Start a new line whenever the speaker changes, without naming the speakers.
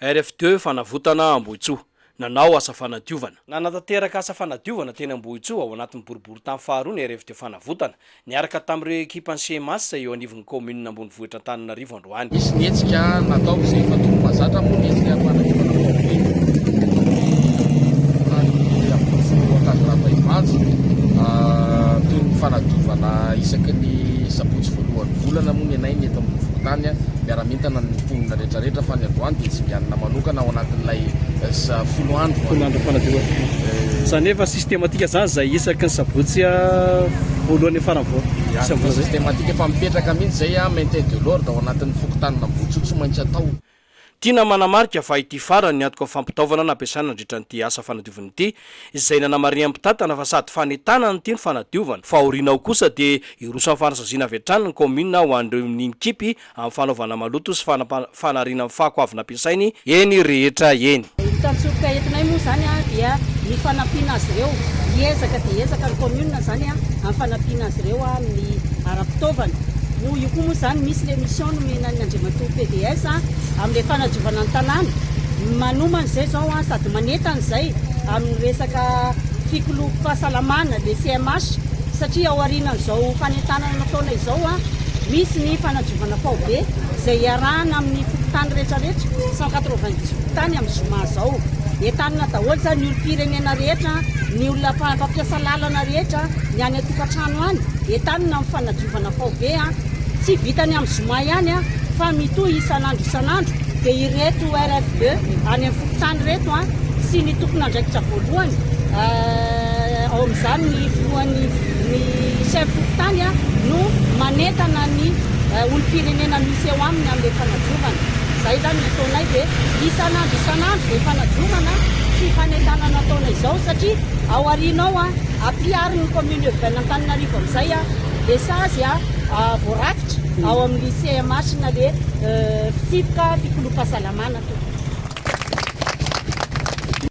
RFTE Fanavotana Ambohitsoa, nanao asa fanadiovana. Nanatanteraka asa fanadiovana teny Ambohitsoa ao anatin'ny boriborintany faharoa ny RFTE Fanavotana, niaraka tamin'ireo ekipan'ny CMAS izay eo anivon'ny kaominina ambonivohitra Antananarivo androany. Nisy ny hetsika
natao izay efa tokony mahazatra moa ny hetsika fanadiovana tao amin'ny tany Ambohitsoa Ankady Ravaimpanjy, toy ny fanadiovana isaky ny sabotsy voalohan'ny volana moa ny anay ny eto amin'ny fokontany miara-mientana amin'ny mponina rehetra. rehetrarehetra fa ny androany dia tsinganina manokana ao anatin'ilay folo andro folo andro fanadiovana
izany efa systematika izany izay isaky ny sabotsy voalohany farany voalohany systematika efa
mipetraka mihitsy izay a maintien de l'ordre ao anatin'ny fokontanina Ambohitsoa tsy maintsy atao Tiana
manamarika fa ity farany ny antoka fampitaovana nampiasaina nandritra an'ity asa fanadiovana ity izay nanamarihan'ny mpitantana fa sady fanentanana ity no fanadiovana fa aoriana ao kosa dia hiroso amin'ny fanasaziana avy hatrany ny kaominina ho an'ireo ny mikipy amin'ny fanaovana maloto sy fanariana ny fako avy nampiasainy eny rehetra eny. Ny tantsoka entinay
moa izany dia ny fanampiana azy ireo. Hiezaka dia hiezaka ny commune izany amin'ny fanampiana azy ireo amin'ny ara-pitaovana. Noho io koa moa izany misy ilay mission nomenan'ny Andriamatoa PDS amin'ilay fanadiovana ny tanàna. Manomana izay izao sady manentana izay amin'ny resaka fikolom-pahasalamana, ilay CMH, satria ao aorianan'izao fanentanana nataonay izao, Misy ny fanadiovana faobe izay iarahana amin'ny fokontany rehetra rehetra, cent quatre-vingt-dix fokontany amin'ny zoma izao. Entanina daholo izany ny olom-pirenena rehetra, ny olona mpampiasa lalana rehetra, ny any an-tokantrano any. Entanina ny fanadiovana faobe. Tsy vitany amin'ny zoma ihany fa mitohy isan'andro isan'andro. Dia ireto RFB any amin'ny fokontany ireto sy ny tompon'andraikitra voalohany, ao amin'izany ny filohan'ny. Ny chef fokontany no manentana ny olom-pirenena misy eo aminy amin'ilay fanadiovana. Izay izany ny ataonay dia isan'andro isan'andro izay fanadiovana sy fanentanana ataonay izao satria ao aoriana ao ampiharin'ny commune urbaine Antananarivo amin'izay ilay sazy voarakitra ao amin'ny CMH na ilay fitsipika fikolom-pahasalamana.